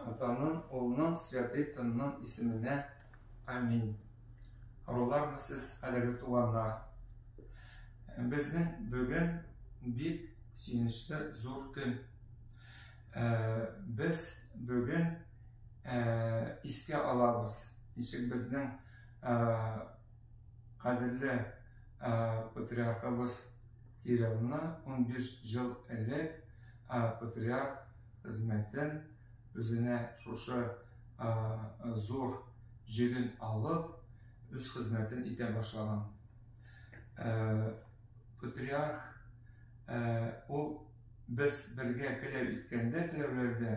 Атаның, Улның, Святый Тынның исеменә. Аминь. Рулармы сез, әлеге туганнар? Безнең бүген бик сөенечле зур көн. Ә, без бүген ә, искә алабыз. Ничек безнең ә, кадерле ә, патриархыбыз Кириллны 15 жыл элек Ә патриарх хезмәтен үзенә шушы зур җиген алып, үз хезмәтен итә башлаган. Патриарх ул без бергә теләү иткәндә теләүләрдә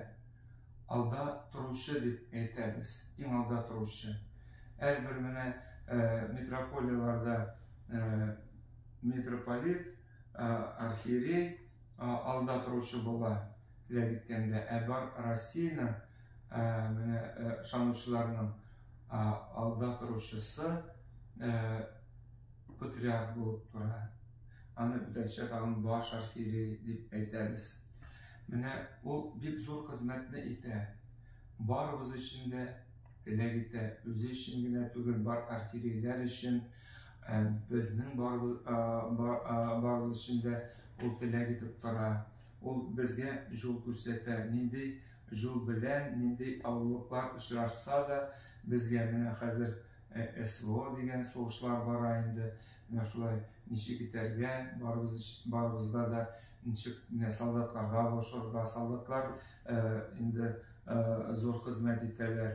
алда торучы дип әйтәбез, иң алда торучы. Әрбер менә митрополияларда митрополит архиерей алда торучы була, теләк иткәндә, ә бар Россиянең менә ышанучыларның алда торучысы патриарх булып тора. Аны бүтәнчә тагын баш архиерей дип әйтәбез. Менә ул бик зур хезмәтне итә. Барыбыз өчен дә теләк итә, үзе өчен генә түгел, бар архиерейләр өчен Безнең барыбыз өчен дә ул теләк итеп тора. Ул безгә җул күрсәтә. Нинди җул белән, нинди авырлыклар очрашса да, безгә менә хәзер СВО дигән сугышлар бара инде. Менә шулай ничек итәргә, барыбызга да ничек менә солдатларга булышырга. Солдатлар инде зур хезмәт итәләр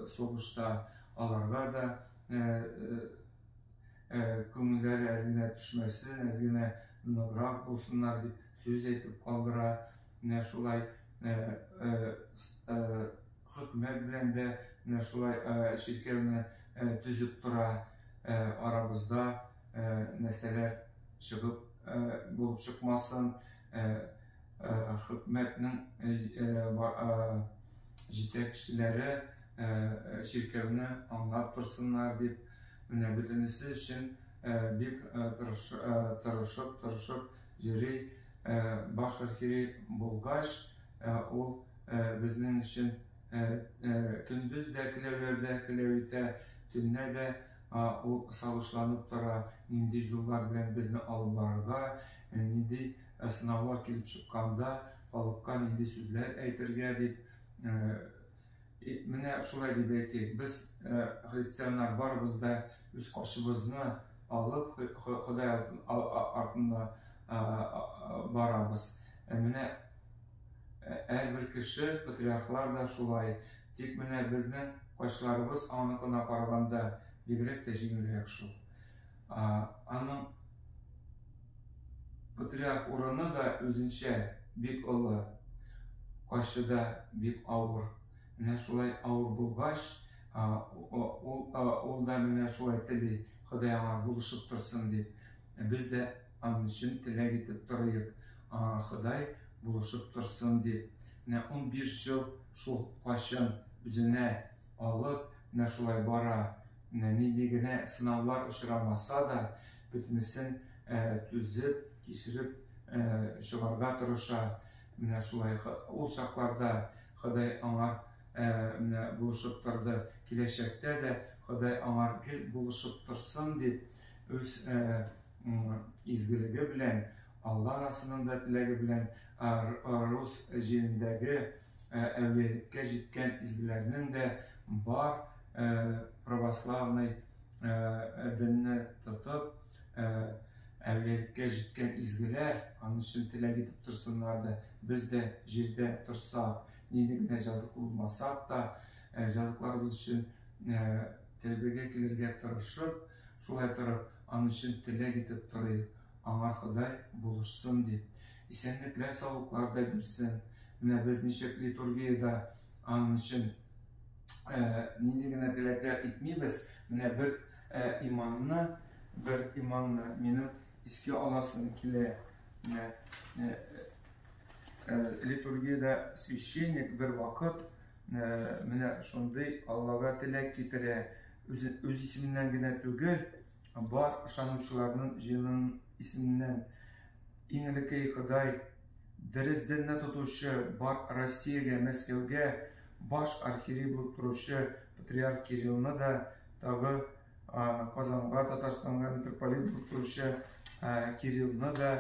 сугышта. Аларга да күңелләре әз генә төшмәсен, әз генә ныграк булсыннар дип сүз әйтеп калдыра. Менә шулай хөкүмәт белән дә менә шулай чиркәүне төзеп тора. Арабызда нәрсәләр чыгып булып чыкмасын. хөкүмәтнең җитәкчеләре чиркәүне аңлап торсыннар дип, менә бөтенесе өчен бик тырышып-тырышып йөри. Баш архиерей булгач, ул безнең өчен көндез дә келәүләрдә келәү итә, төнлә дә ул сагышланып тора, нинди юллар белән безне алып барырга, нинди Ә сынаулар килеп чыкканда, халыкка нинди сүзләр әйтергә дип, менә шулай дип әйтик, без, христианнар, барыбыз да үз каршыбызны алып, Ходай артында барабыз. Ә менә һәрбер кеше, патриархлар да шулай. Тик менә безнең каршыларыбыз аныкына караганда бигрәк тә җиңелрәк шул. Аның патриарх урыны да үзенчә бик олы, кайчы да бик авыр. Менә шулай авыр булгач, ул да менә шулай тели, Ходай аңа булышып торсын дип. Без дә аның өчен теләк итеп торыйк, Ходай булышып торсын дип. Менә 15 ел шул кайчын үзенә алып, менә шулай бара. Менә нинди генә сынаулар очрамаса да, бөтенесен түзеп, кичереп чыгарга тырыша. Менә шулай ул чакларда Ходай аңар менә булышып торды, киләчәктә дә Ходай аңар гел булышып торсын дип, үз изгелеге белән, Алла расының да теләге белән рус җирендәге Ә әүлиялеккә җиткән изгеләрнең дә бар православный денне тотып, әүлиялеккә җиткән изгеләр аны чын теләк итеп торсыннар да, без дә җирдә торсак, нинди генә җазыклы булмасак та, җазыкларыбыз өчен тәүбәгә килергә тырышып, шулай торып, аны чын теләк итеп торыйк, аңар Ходай булышсын дип. Исәнлекләр саулыклар да бирсен. Менә без ничек литургиядә аның өчен нинди генә теләкләр итмибез. Менә бер иманны, бер иманны минем искә аласым килә. Менә литургиядә священник бер вакыт менә шундый Аллага теләк китерә. Үз исеменнән генә түгел, бар ышанучыларның җиренең исеменнән иң элеккеи Ходай, дөрес динне тотучы бар Россиягә, Мәскәүгә баш архиерей булып торучы патриарх Кириллны да тагы Казанга, Татарстанга митрополит булып торучы Кириллны да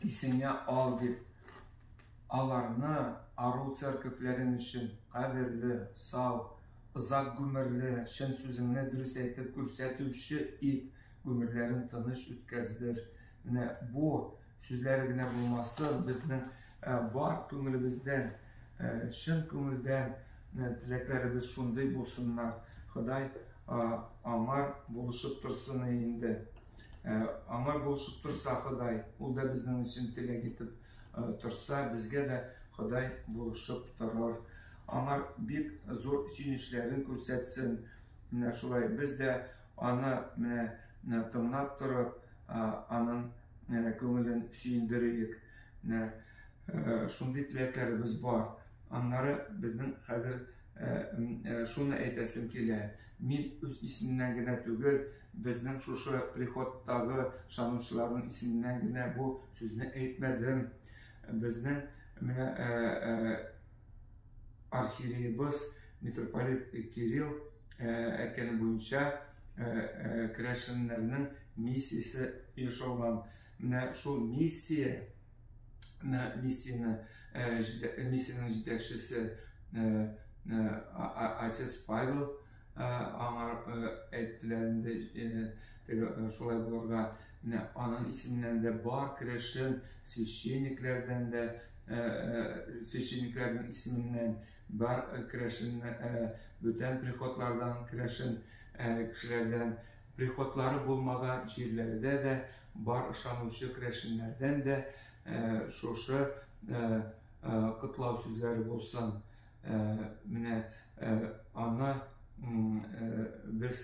исеңә ал дип, аларны ару церковьләрең өчен кадерле, сау, озак гомерле, чын сүзеңне дөрес әйтеп күрсәтүче ит, гомерләрен тыныч үткәздер. Менә бу сүзләре генә булмасын, безнең э, бар күңелебездән, э, чын күңелдән э, теләкләребез шундый булсыннар. Ходай аңар булышып торсын инде. Аңар булышып торса Ходай, ул да безнең өчен теләк итеп Торса, безгә дә Ходай булышып торыр. Аңар бик зур сөенечләрен күрсәтсен. Менә шулай без дә аны менә тыңлап торып, аның күңелен сөендериек. Менә шундый теләкләребез бар. Аннары безнең хәзер шуны әйтәсем килә. Мин үз исемнән генә түгел, Безнең шушы приходтагы шанучыларның исеменнән генә бу сүзне әйтмәдем. Безнең менә э, э, архиереебыз митрополит Кирилл э, әйткәне буенча керәшеннәрнең миссиясе ешылган. Менә шул миссия миссияне миссиянең җитәкчесе отец Павел Аңа әйттеләр инде, теге шулай булырга. Менә аның исеннән дә бар керәшен священникләрдән дә, священникләрнең исеменнән бар керәшен бүтән приходлардан керәшен кешеләрдән приходлары булмаган җирләрдә дә бар ышанучы керәшеннәрдән дә шушы котлау сүзләре булсын. Менә аны без